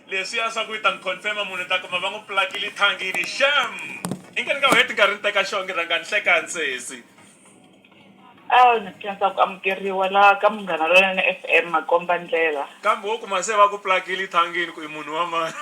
leswiya swa ku yi ta n'wi confirma munhu ni ta kuma va n'wi plakile thangini sham i nge ni nga wu heti nkarhi ni teka xonge rhanga ni hlekani sesi a ni khensa ku amukeriwa laha ka munghana lonene f m makomba ndlela kambe wo kuma se va ku plakile thangini ku i munhu wa mani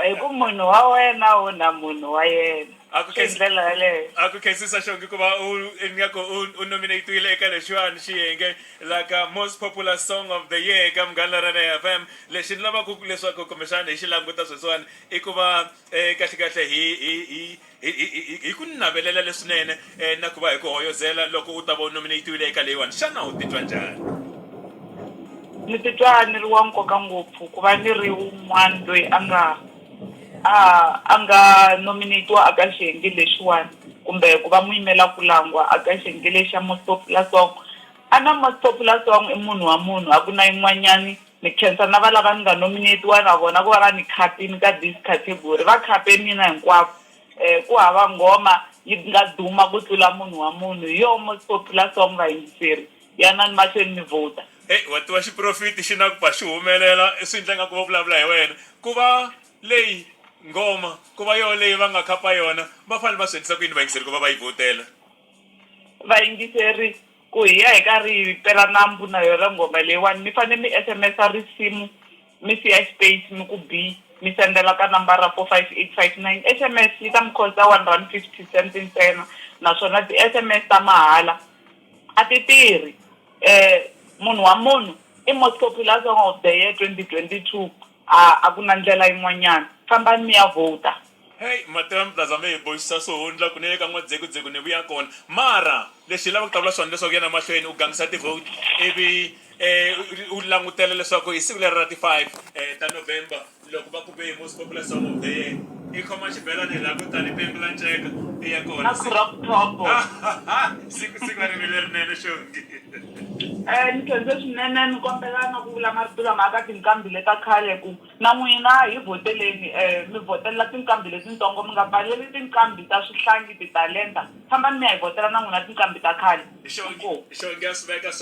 hi ku munhu wa wena wo na munhu wa yena a ku hi ndlela yaleyo a ku khensisa xonge ku va u ingaku u u nominate-wile eka lexiwani xiyenge la ka most popular song of the year eka Munghana Lorena FM lexi ni lavaka ku leswaku kumbexana hi xi languta sweswiwani i ku va eh, kahlekahle hi hi hi hi hi- hi- hi ku navelela leswinene eh, na ku va hi ku hoyozela loko u ta va u nominatiwile eka leyiwani xana u titwa njhani ni titwa ni ri wa nkoka ngopfu ku va ni ri un'wana loyi a nga a a nga nominate-iwa a ka xiyenge lexiwani kumbe ku va muyimela kulangwa a ka xiyenge lexa most popular song , a na most popular song i munhu wa munhu a ku na yin'wanyani, ni nkhensa na valava ni nga nominate-iwa na vona ku va va ni khapini ka this category va khape mina hinkwavo, ku hava nghoma yi nga duma ku tlula munhu wa munhu hi yo most popular song vayingiseri. Yanani mahlweni mi vhuta. Hey, wa tiva xiprofiti xi na ku ba xi humelela, swi endla ingaku va vulavula hi wena. Ku va leyi nghoma, ku va yoho leyi va nga khapa yona, va fanele va swi endlisa ku yini vayingiseri ku va va yi vhotela? Vayingiseri, Ku hi ya hi karhi hi pela nambu na yona nghoma leyiwani, mi fanele mi SMS-a risimu mi siya xipeyici ni ku bi, mi sendela ka nambara 45859. SMS yi ta mi khosta one rand fifty cents ntsena, naswona ti-SMS ta mahala. A ti tirhi. Munhu wa munhu i most popular song of the year 2022 a ku na ndlela yin'wanyana fambani mi ya vhota. Hey Matewan Plaza mi hi boxisa swo hundla ku ni le ka N'wadzekuzeku ni vuya kona mara lexi hi lava ku ta vula swona leswaku yana mahlweni u gangisa ti vote ivi u langutela leswaku hi siku leri ra ti five ta November Loko va ku be hi most popular song of the year i khoma xibelani laha ku tani pembe la nceka i ya kona Aku crop top. siku siku a ri vi lerinene xongi Eh ni khense swinene ni kombela na ku vula marito lama aka tinqambi leta khale ku na n'wina hi vhoteleni eh mi vhotelela tinqambi letintsongo mi nga pfaleli tinqambi ta swihlangi titalenta fambani mi ya hi vhotela na n'wina tinqambi ta khale xongi inkomu. xongi ya swi veka swe.